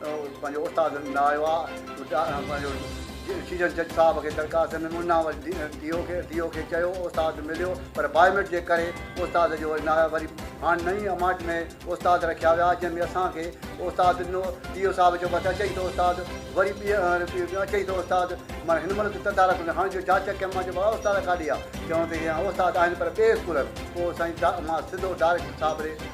پنهنجو استاد هوندا هئا پنهنجو ڊسيزن جج صاحب کي درخواست ڏني منا وري ڊي او کي ڊي او کي چيو استاد مليو پر بايوميٽ جي ڪري استاد جو وري ناهي وري هاڻي نئين اماٽ ۾ استاد رکيا ويا جنهن ۾ اسان کي استاد ڏنو ڊي او صاحب چيو بس اچئي ٿو استاد وري ٻي اچئي ٿو استاد مانا هن مهل ته تدارڪ نه هاڻي جو جاچ ڪيم مان چيو بابا استاد ڪاڏي ويا چيو ته استاد آهن پر ٻئي اسڪول پوء سائين مان سڌو ڊائريڪٽر صاحب ڏي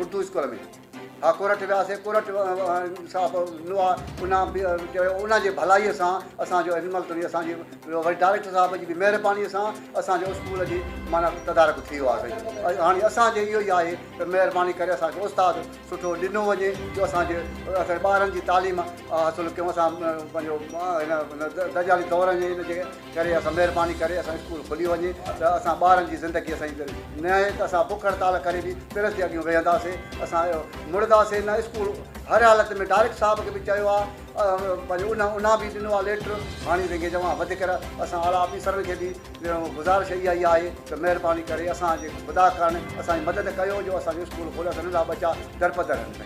اردو اسڪول ۾ ها ڪورٽ وياسي ڪورٽ صاحب نوا انا به چيو ان جي ڀلائي سان اسان جو انمل تري اسان جي وري ڊائريڪٽر صاحب جي به مهرباني سان اسان جو اسڪول جي معنيٰ تدارڪ ٿي ويو آهي سائين هاڻي اسان جي اهو ئي آهي ته مهرباني ڪري اسان کي استاد سٺو ڏنو وڃي جو اسان جي اسان ٻارن جي تعليم حاصل ڪيون اسان پنهنجو هن دجالي دور جي ان جي ڪري اسان مهرباني ڪري اسان اسڪول کلي وڃي ته اسان ٻارن جي زندگي اسان جي پيري نهي ته اسان بک هڙتال ڪري به پرس جي اڳيون ويهنداسين اسان مڙداسين نه اسڪول هر حالت ۾ ڊارڪٽ صاحب کي به چيو آ پنهنجو ان انا به ڏنو آ ليٽر هاڻي رنگي جوان وڌ ڪر اسان اعليٰ آفيسرن کي به گذارش اها ئي آهي ته مهرباني ڪري اسان جي خدا ڪرڻ اسان جي مدد ڪيو جو اسان جو اسڪول کولي اسان ننڍا ٻچا درپدر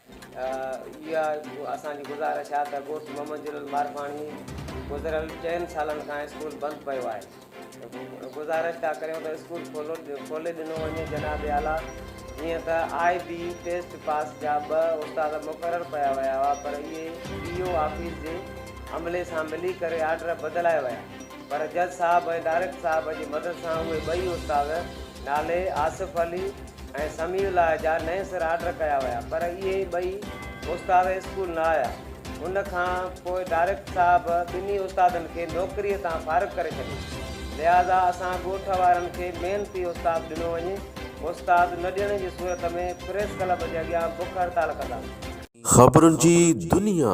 اها اسان جي گذارش آهي ته ڳوٺ محمد جلال مارپاڻي گذريل چئن سالن کان اسڪول بند پيو آهي گذارش ٿا ڪريون ته اسڪول کولي ڏنو وڃي جناب اعليٰ جيئن ته آء بي ٽيسٽ پاس جا ٻه استاد مقرر پيا ويا هئا پر اهي ڊي او آفيس جي عملي سان ملي ڪري آرڊر بدلائي ويا پر جج صاحب ۽ ڊائريڪٽر صاحب جي مدد سان اهي ٻئي استاد نالي آصف علي ۽ سميع الله جا نئين سر آرڊر ڪيا ويا پر اهي ٻئي استاد اسڪول نه آيا. ان کان پوء ڊائريڪٽر صاحب ٻنهي استادن کي نوڪريء تان فارغ ڪري ڇڏيو. لهٰذا اسان ڳوٺ وارن کي محنتي استاد ڏنو وڃي. استاد نه ڏيڻ جي صورت ۾ پريس ڪلب جي اڳيان بک هڙتال ڪنداسين. خبرن جي دنيا.